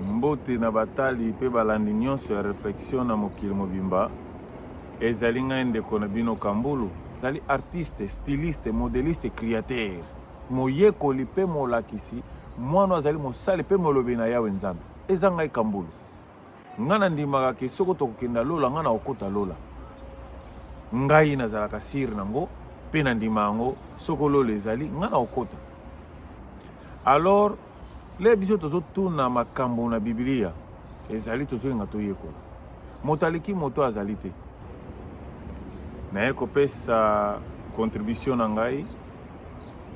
Mbote na batali mpe balandi nyonso ya reflexion na mokili mobimba. Ezali ngai ndeko na bino Kambulu. Nazali artiste, styliste, modeliste, createur, moyekoli mpe molakisi. Mwana azali mosali mpe molobi na Yawe Nzambe. Eza ngai Kambulu. Ngai nandimaka ke soko tokokenda lola, ngai nakokota lola. Ngai nazalaka sire na ngo mpe nandima yango. Soko lola ezali, ngai nakokota. Alors Le biso tozotuna makambo na Biblia ezali tozolinga toyekola. Moto aleki moto azali te. Naye kopesa contribution na ngai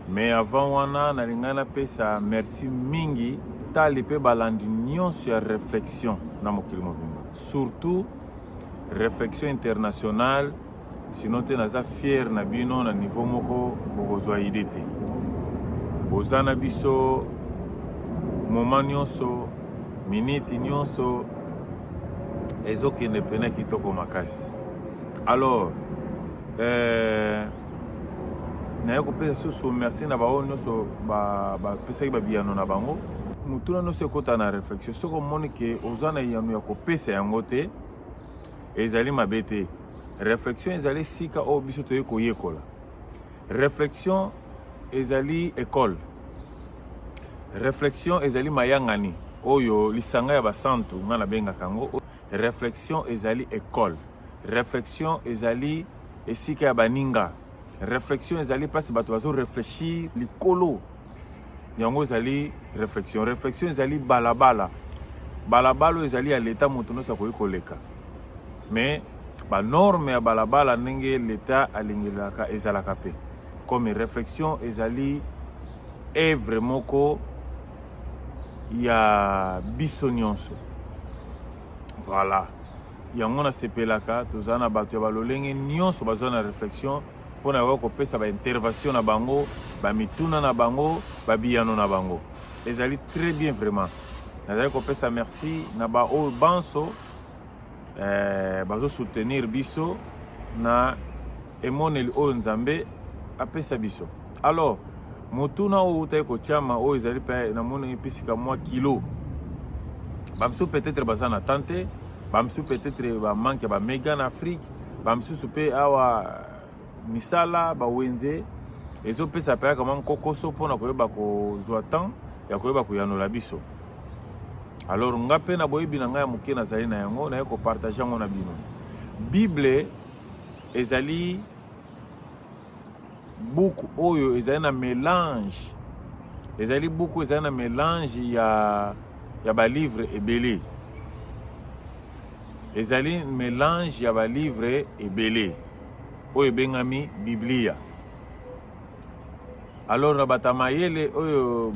mais avant wana nalingai napesa merci mingi tali mpe balandi nyonso ya réflexion na mokili mobimba surtout réflexion internationale sinon te naza fier na bino na niveau moko bokozwa idee te boza na biso moment nyonso miniti nyonso ezokende mpena kitoko makasi alors euh, naye kopesa susu merci na baoyo nyonso bapesaki ba babiyano na bango motuna nyonso ekota na réflexion soki omoni ke oza na eyano ya kopesa yango te ezali mabe te reflexion ezali esika oyo biso toye koyekola reflexion ezali ekole reflexion ezali mayangani oyo lisanga ya basantu ngai nabengaka yango reflexion ezali ekole reflexion ezali esika ya baninga reflexion ezali mpasi bato bazoreflechir likolo yango ezali réflexion réflexion ezali balabala balabala oyo ezali ya leta moto nyonso akoki koleka mais banorme ya balabala ndenge leta alingelaka ezalaka mpe comme réflexion ezali evre moko ya biso nyonso voilà yango nasepelaka toza na bato ya balolenge nyonso baza na réflexion mpo na koya kopesa baintervention na bango bamituna na bango babiyano na bango ezali très bien vraiment nazali kopesa merci na baoyo banso eh, bazosoutenir biso na emoneli oyo nzambe apesa biso alors motuna oyo outaki kotyama oyo ezali mpe namoni episika mwa kilo bamisu peut-être baza na temps te bamisu peut-être bamanke bamega na afrique ba misusu pe awa misala ba wenze ezo pesa pe kama nkokoso pona koyeba kozwa temps ya koyeba koyanola biso alors nga pe na boyebi na ngai ya moke nazali na yango naye kopartage yango na bino bible ezali buku oyo ezali na melange ezali buku ezali na melange ya, ya balivre ebele ezali melange ya balivre ebele oyo ebengami biblia alors na bata mayele oyo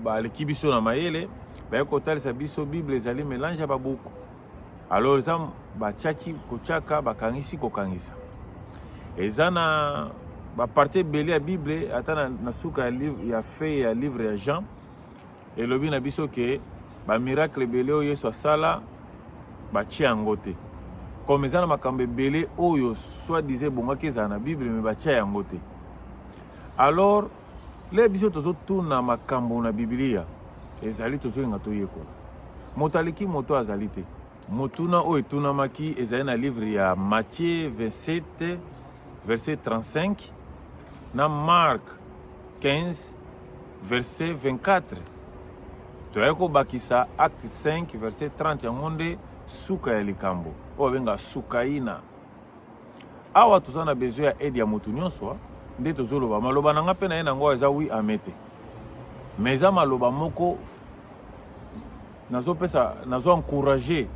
baleki biso na mayele baye kotalisa biso bible ezali melange ya babuku alors eza batiaki kotiaka bakangisi kokangisa eza na baparti ebele ya bible ata na, na suka ya, livre, ya fei ya livre ya jean elobi na biso ke bamiracle ebele oyo yesu asala batie yango te comme eza na makambo ebele oyo soit disant ebongaki ezala na bible me batia yango te alors Le biso tozotuna makambo na Biblia ezali tozolinga toyekola. Moto aleki moto azali te. Motuna oyo etunamaki ezali na livre ya Matthieu 27 verset 35 na Mark 15 verset 24. Toyaki kobakisa acte 5 verset 30 yango nde suka ya likambo oyo abenga sukaina. awa toza na besoin ya aide ya moto nyonso nde tozoloba maloba na nga mpe na ye na yango eza wi ame te mais eza maloba moko nazopesa nazo encourage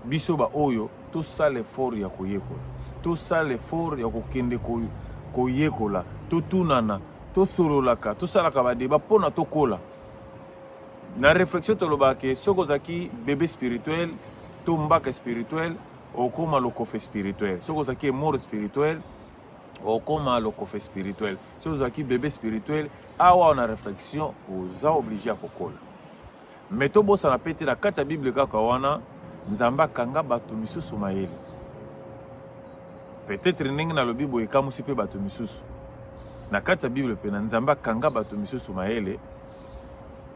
biso baoyo tosala effort ya koyekola tosala effort ya kokende koyekola totunana tosololaka tosalaka badeba mpo na tokola na réflexion tolobaka ke soki ozalaki bebe spirituel to mbaka spirituel okoma lokofe spirituel soki ozalaki mort spirituel okoma lokofe spirituel soki ozalaki bebe spirituel awa na réflexion oza oblige ya kokola me tobosana mpe te na kati ya bible kaka wana nzambe akanga bato misusu mayele peut-être ndenge nalobi boye ekamusi mpe bato misusu na kati ya bible mpe na nzambe akanga bato misusu mayele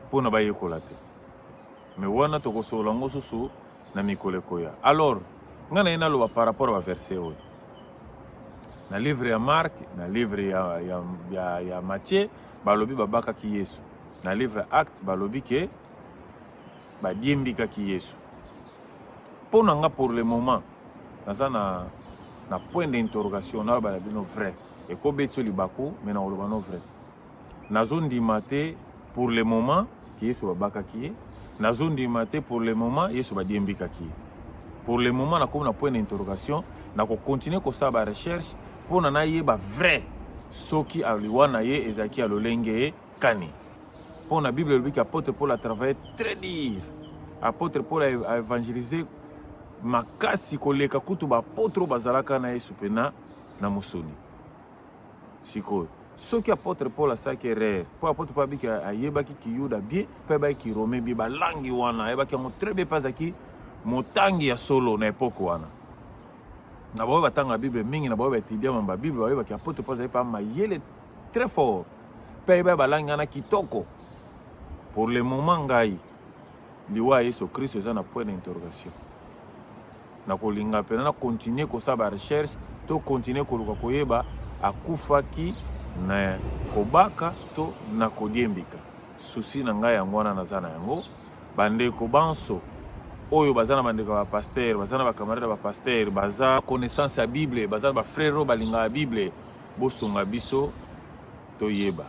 mpo na bayekola te me wana tokosolola yango susu na mikolo ekoya alors ngai naye naloba par rapport ya baverse oyo na livre ya mark na livre ya, ya, ya, ya mathieu balobi babakaki yesu na livre acte balobi ke badiembikaki yesu mpo na nga pour le moment naza na, na point d'interrogation naloba na bino vrai ekobeti yo libaku me nakoloba no vrai nazondima te pour le moment ke yesu babakaki ye nazondima te pour le moment yesu badiembikaki ye pour le moment nakomi na point na interrogation nakokontinue kosala barecherche mpo na nayeba vrai soki aliwa na ye ezalaki ya lolenge kani mpo na bible elobiki apôtre paul atravaille très dire apôtre paul aevangelise makasi koleka kutu baapôtre oyo bazalaka na yesu mpena na mosuni sikoyo soki apôtre paul asalaki erreur mpo apôtre paul abiki ayebaki kiyuda bien mpe ayebaki kirome bien balangi wana ayebaki yango très bien mpe azalaki motangi ya solo na epoke wana na baoyo batanga bible mingi na baoyo baetudia mamba bible bayebaki apôtre paul azali mpa mayele très fort mpe ayebaki balangi wana kitoko pour le moment ngai liwa ya yesu kristo eza na point d'interrogation nakolinga mpena na continuer kosala ba recherche to continuer koluka koyeba akufaki na kobaka to na kodiembika susi na ngai yango wana naza na yango bandeko banso oyo baza na bandeko ya bapastere baza na bacamarade ya bapastere baza connaissance ya bible baza na bafrere oyo balingaka bible bosunga biso toyeba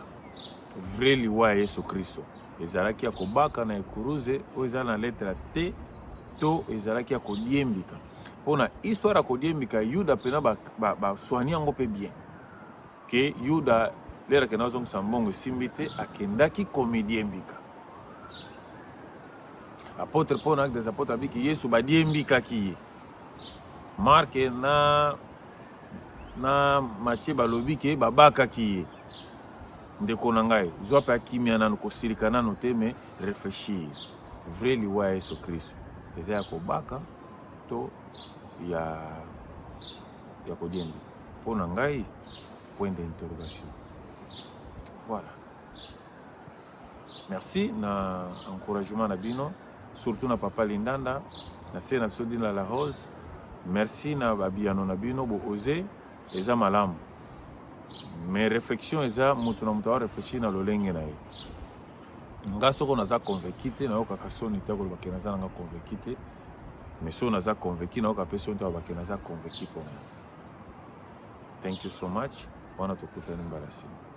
vrai liwa ya yesu kristo ezalaki ya kobaka na ekuruze oyo ezali na letre te to ezalaki ya kodiembika mpo na histoire ya kodiembika yuda mpena baswani yango mpe bien ke yuda lere akenda azongisa mbongo esimbi te akendaki komidiembika apotre paul na des apotre abiki yesu badiembikaki ye marke na na matie balobi ke babakaki ye Ndeko na ngai, zwa mpe kimia nanu, kosilika nanu te, mais reflechir. Vrai liwa ya Yesu Kristo eza ya kobaka to ya ya kodiemba? Mpo na ngai, point d'interrogation. Voilà. Merci na encouragement na bino, surtout na papa Lindanda, na se na biso Dina la Rose. Merci na babiyano na bino, bo oser eza malamu mais réflexion eza moto na moto areflechir na lolenge na ye nga soko naza convaincu te nayokaka soni te koloba ke naza nanga convaincu te mais soko naza convaincu nayoka mpe soni te koloba ke naza convaincu mpona thank you so much wana tokutani mbala nsima